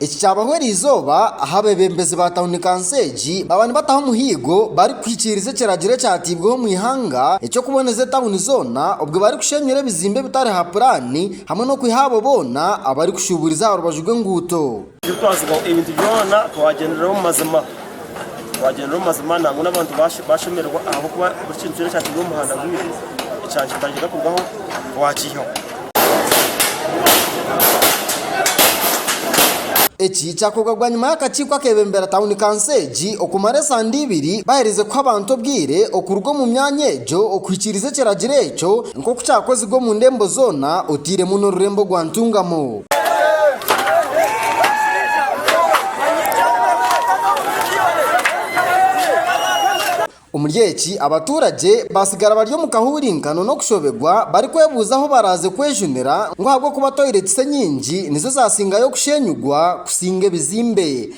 Eki kyabaho eri izooba ahu abeebembezi ba tauni kansi egi baaba nibataho omuhiigo barikuhikiiriza ekiragiro ekyateibweho omu ihanga eky'okuboneza etauni zoona obwe barikushenyura ebizimbe ebitari ha puraani hamwe n'okwiha abo boona abarikushuuburiza aha rubaju rw'enguuto. Turikwazibwa ebintu byona twagyenderera omu mazima, twagyenderera omu mazima nangwa n'abantu bashemererwa ahabw'okuba buri kintu kyona ekyateirwe omu muhanda gwaitu ekya kitandika kurugaho twakiihaho. Eki kyakorwa bwanyima y'akakiiko akebembera tawuni kanso egi okumara esande ibiri bahereize kuha abantu obwire okuruga omu myanya egyo okuhikiiriza ekiragiro ekyo nk'oku kyakozirwe omu ndembo zoona oteiremu n'orurembo rwa Ntungamo. Omuri eki, abaturagye batsigara bari omu kahuurinkano n'okushoberwa barikwebuuza ahu baraaze kwejunira ngu ahabw'okuba toilet enyingi nizo zaatsindayo kusheenyigwa kusinga ebizimbe.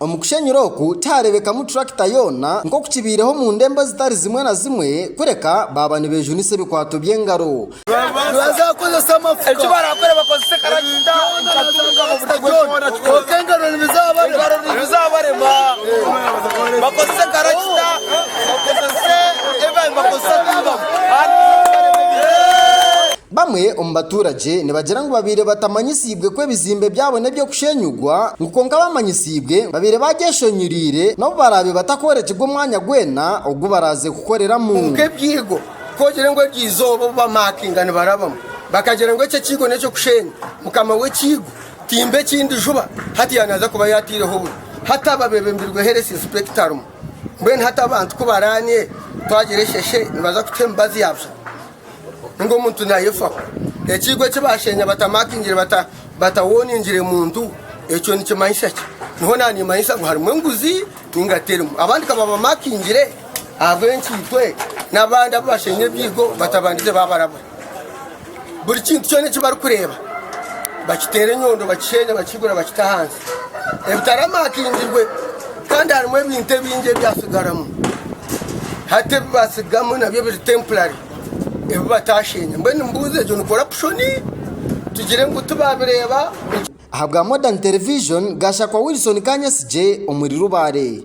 Omu kushenyura oku tihareebekamu turakita yoona nk'oku kibaireho omu ndembo ezitari zimwe na zimwe, kureka baaba nibeejunisa ebikwato by'engaro. Bamwe omu baturagye nibagira ngu babaire batamanyisiibwe ku ebizimbe byabo n'eby'okushenyugwa, ngu kwonka baamanyisiibwe ngu babaire baagyeshonyuriire n'obu baraabe batakworekirwe omwanya gwena ogu baraaze kukoreramu. Kwonka ebyigo kogire ngu eryo izooba obu bamakinga nibarabamu bakagira ngu ekyo ekiigo n'eky'okusheenya, mukama w'ekiigo timba ekindi juba hati yaanaaza kuba yaataireho oburo hataba bebembirwe Health Inspector rumu mbwenu hati abantu ku baraanire twagira esheshe nibaza kutuha emibazi ya busha. ninga omuntu nayefaho ekiigo eki bashenya batamakingire bata batawoningire muntu ekyo nikimanyisa ki niho nanimanyisa ngu harimu enguzi ninga terimu abandi kababamakingire ahabwenkiitwe n'abandi abu bashenya ebiigo batabandize babarabura buri kintu kyona eki barikureeba bakiteera enyondo bakishenya bakihigura bakita ahansi Ebitara makingirwe kandi harimu ebintu ebingi ebyatsigaramu. Hati ebibatsigamu nabyo biri temporary ebibatashenya. Mbwenu nimbuuza egyo ni corruption tugire ngu tibabireba. Ahabwa Modern Television, Gashakwa Wilson Kanyasigye omuri Rubare.